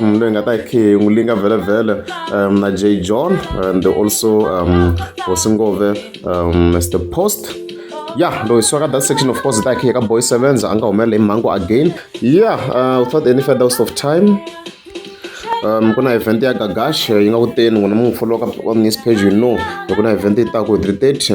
mm, leyi nga ta hi khe n'wi linga vhelemvhele um, na j john and also um, hosingove um, mr post ya loyi swaka that section of course ta hi khe ka boy sevens a nga humelela hi mhangu again ya uh, without any further waste of time um ku na event ya gagash yi nga kuteni n'wina mu n'wi followa ka on news page you know loko na event yi ta ku hi three thirty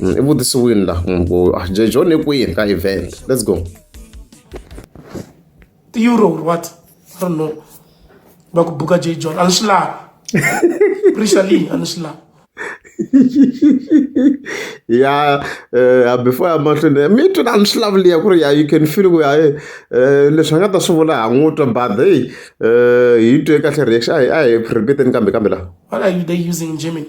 mm, i vutisiwini la munhu ah, jejo ni kwini ka event let's go ti-euro or what i don't know va ku buka j john a ni swi lavi prisa leyi a ni swi lavi ya eh, before ya mahlweni mi twi na ni swi lavuliya ku ri ya you can feel ku ya eh, eh, leswi a nga ta swi vula ha n'wi twa but hey hi twe kahle reaction a hi a hi repeateni kambe kambe laha what are you they using in germany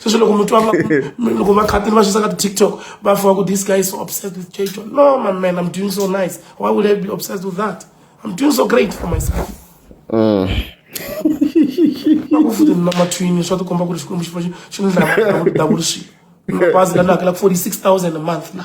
sweswi loko mi twa loko vakhatini va xisaka ti-tiktok va fiwa ku this guy is so obsessed with j john no my man i'm doing so nice why would i be obsessed with that i'm doing so great for myself mm. ku futi na mathwini swa tikomba ku ri xikwembu xi fa xi ni dlaya davulixilo bazi la ni hakela ku forty six thousand a month na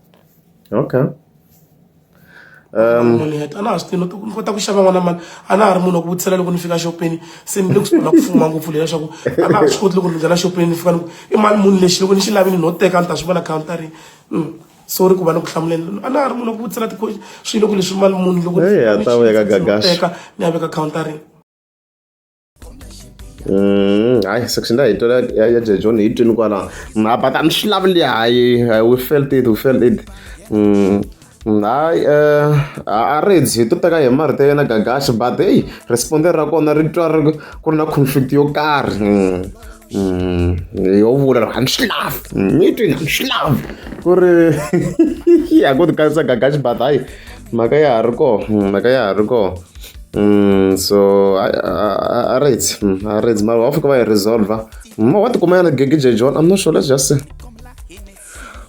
okay um munhu yet a na ha swi tivi ni kota ku xava n'wana mali a na ha ri munhu wa ku vutisela loko ni fika xopeni se ni le ku sungula ku fuma ngopfu leyi leswaku a na ha swi koti loko ni nghena xopeni ni fika ni ku i mali munhu lexi loko ni xi lavi ni no teka ni ta swi vona countarini hmm. sorry ku va ni ku hlamuleni a na ha ri munhu wa ku vutisela tiqoxi swilo loko leswi mali munhu loko ni ya veka countarini Mm, hayi section leyi hi tola ya ya John hi twini kwala mm, ha bata ni swi lavile hayi we felt it we felt it mm, hayi eh, a ri hi to teka hi marito ya yena gagaxi but heyi responde ra kona ri twa ri ku ri na conflict yo karhi yo vula ri a ni swi lavi ni twini a ni swi lavi ku ri ya ku ti kanisa gagaxi but hayi mhaka ya ha ri kona mhaka ya ha ri kona Mm, so a ri it's a ri it's mara wa fika va yi resolver ma wa tikuma yana gigi j john i'm not sure let's just see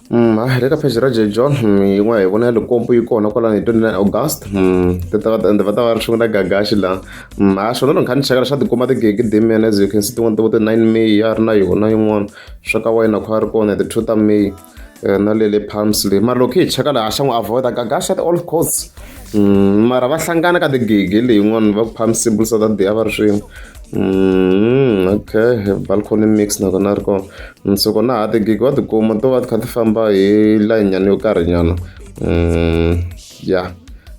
Mm, ah, le ka page ra J John mm, yin'wana hi vona ya likompo yi kona kwalani hi 29 August mm, ti ta va ende va ta va ri xin'wana gagaxi laha mm, ha ah, xona loko kha ni chekela xa tikuma tigigi dimian as you can see tin'wana ti vo ti 9 May ya ri na yona yin'wana swa ka wayina kha ri kona hi ti 2 ta May eh, na le le palms le mara loko hi cheka laha xa n'wi avoida gagasha the all courts mm, mara va hlangana ka tigigi leyin'wana va ku palm simple south that day a va ri swin'we Mm, okay balcony mix na kona ri kona mm, so kona ha tigigi wa tikuma to va ti kha ti famba hi layinyana yo karhi nyana mm. ya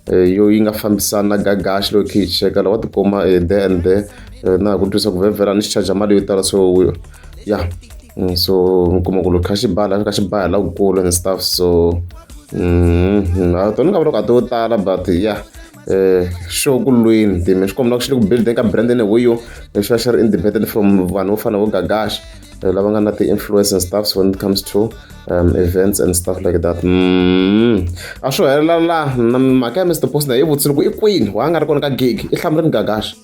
eh, yo yi nga fambisani na gagaxi loyi khe yi cheka lawa tikuma eh, the and the eh, na ha ku twisa ku vhevhela ni xi charger mali yo tala so ya mm, so mi kuma ku loko kha xi bala xi kha xi baya la kukulu and stuff so mm, a tona nga vula ku a to tala but ya yeah eh sure ku lweni time xikomba loko xi le ku building ka brand ene ho yo leswi va xi ri independent from vanhu vo fana vo gagaxa eh, lava nga na ti-influence and stuffs when it comes to um, events and stuff like that mm. a swo helela la mhaka ya mr post na yi vutise loko i kwini wa nga ri kona ka gig i hlamuleni gagaxa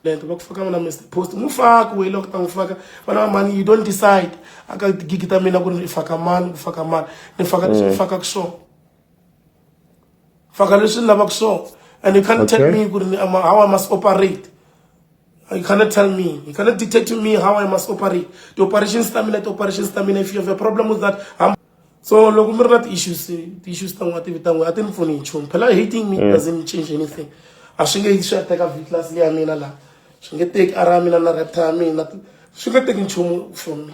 lento va ku faka mina mr post n'wi faki weyi loko ta n'wi faka vana va mani you don't decide aka gigi ta mina ku ri ni faka mani ku faka mani ni faka leswi ni mm. fakaka swona faka leswi ni lavaka swona and you can't okay. tell me ku ri how i must operate you cannot tell me you cannot dictate to me how i must operate the operations ta mina ti-operations ta mina if you have a problem with that I'm... so loko mi ri na ti-issues ti-issues ta n'wa tivi ta n'we a ti ni pfuni nchumu phela hating me mm. doesn't change anything a swi nge swi ya teka viclas leya mina laha swi nge teki ara ya mina na repta ya mina swi nge teki nchumu from me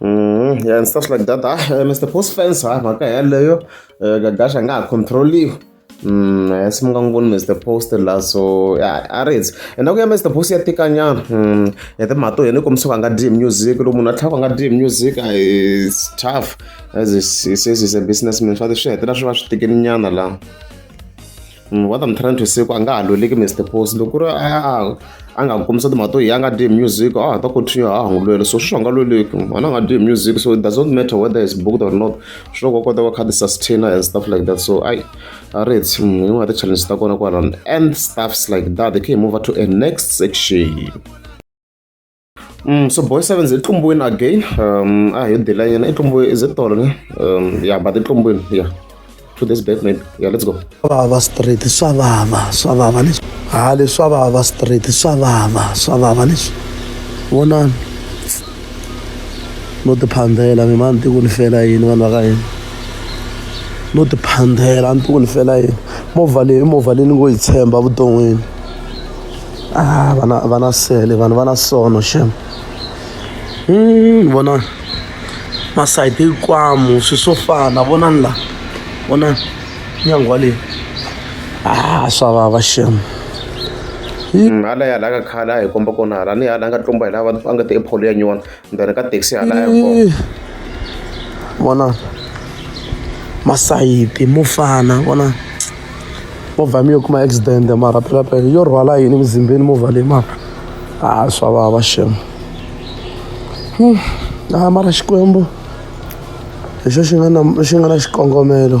Mm, yeah, and stuff like that. Ah, uh, Mr. Post fence, ah, mhaka yaleyo uh, gagash anga ha controliwa Mm, eh, simuka n'wi voni mr post la so ya a ri ndzi enda ku ya mr post ya tikanyana mm, ya timhaka to yena kombisa ku a nga dm music loko munhu a tlhaka a nga dm music a is tough as he says is a businessman swa ti swi hetelela swi va swi tikini nyana laha Mm, what I'm trying to say ku a nga ha lweleki Mr Post loko ku ri a a nga kombisa timhaka to yi a nga dyi music a ha ta continue a ha n'wi lwela so sweswi a nga lweleki wena a nga dyi music so it does not matter whether is booked or not swi loko kota ku kha ti sustainer and stuff like that so ai a ri hi mm, yin'wana ya ti-challenge ta kona kwalano and stuffs like that they can move to a next section Mm, so boy sevens i tlumbwini again um a hi dila yena i tlumbwini is it tolo ne um yeah but i tlumbwini yeah to this bed maybe yeah let's go vava straight swa vava swa vava leswi ha leswa vava straight swa vava swa vava leswi vonani no tiphandela mi mani tiku ni fela yini vanhu va ka yini no tiphandela ni tiku ni fela yini movha leyi i movha leyi ni ngo yi tshemba vuton'wini ah, vana vana sele vanhu vana sono xem hmm, vona masayiti hinkwamu swi swo fana vonani la vonani nyangwa leyi ah swa vava xem hala ya la ka khala hi komba kona hala ni hala nga tlumba hi lava a nga ti epholo ya nyona Ndzi ri ka taxi hala airport. Vona masayiti mo fana vona movha mi yo kuma accident mara phelaphela yo rhwala yini mizimbeni movha leyi mara a swa vava shem a mara xikwembu hi xo xi nga na xi nga na xikongomelo.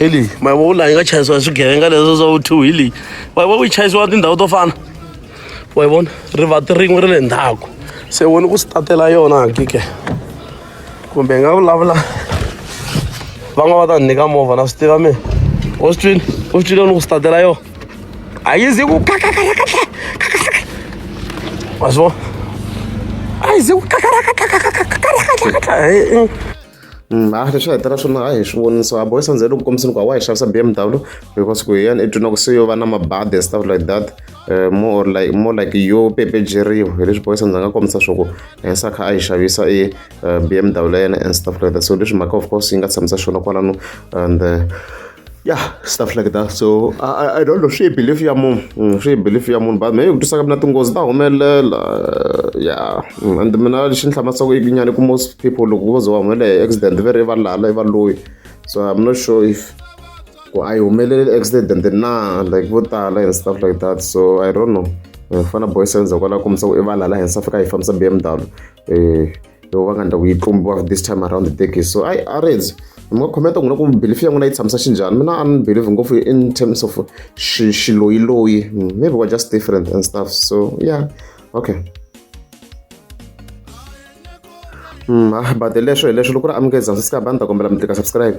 hi leyi ma vo laha yi nga chayisiwa hi swigevenga leswo swa vo two hi leyi wa vo yi chayisiwa tindhawu to fana wa yi vona rivati rin'we ri le ndzhaku se woni ku sitatela yona hakike kumbe hi nga vulavula va nga va ta ni nyika movha na swi tiva mina u swi twini u swi twile ni ku sitatela yona a yi zi ku kakakakakaka wa swi vona a yi zi ku kakakakakakakakakakakaka a leswi va hetela swona a hi swi voni so a boys a ndzele ku kombiseni ku a wa hi xavisa b m w because ku hi yena i twina ku se yo va na mabadi and stuff like that eh, more like more like yo pepejeriwa hi leswi boys a ndzi nga kombisa swa ku hensa kha a yi xavisa i eh, b m w ya yena and stuff like that so leswi mhaka of course yi nga tshamisa swona kwalano and eh, ya stuff like that so i, I don't know swi hi belief ya munhu mm, swi hi belief ya munhu but me ku tisaka mina tinghozi ta humelela ya mm, and mina lexi ni hlamatsaka ikinyani ku most people loko vo ze va humelela hi accident ve ri va lala i va loyi so i'm not sure if ku a yi humeleli accident na like vo tala and stuff like that so i don't know eh, fana boy senza kwala kumisa ku i va lala hensa fika hi fambisa bmw eh yo va nga ndhaku yi tlumbiwa this time around the decade so i arrange mi nga khometa n'wina ku belief ya n'wina yi tshamisa xinjhani mina a ni believe ngopfu in terms of xiloyiloyi hmm, maybe we're just different and stuff so yeah okay Mm, ah, but leswo hi leswo loko ri amukeza sisi ka bani ta kombela mi tlika subscribe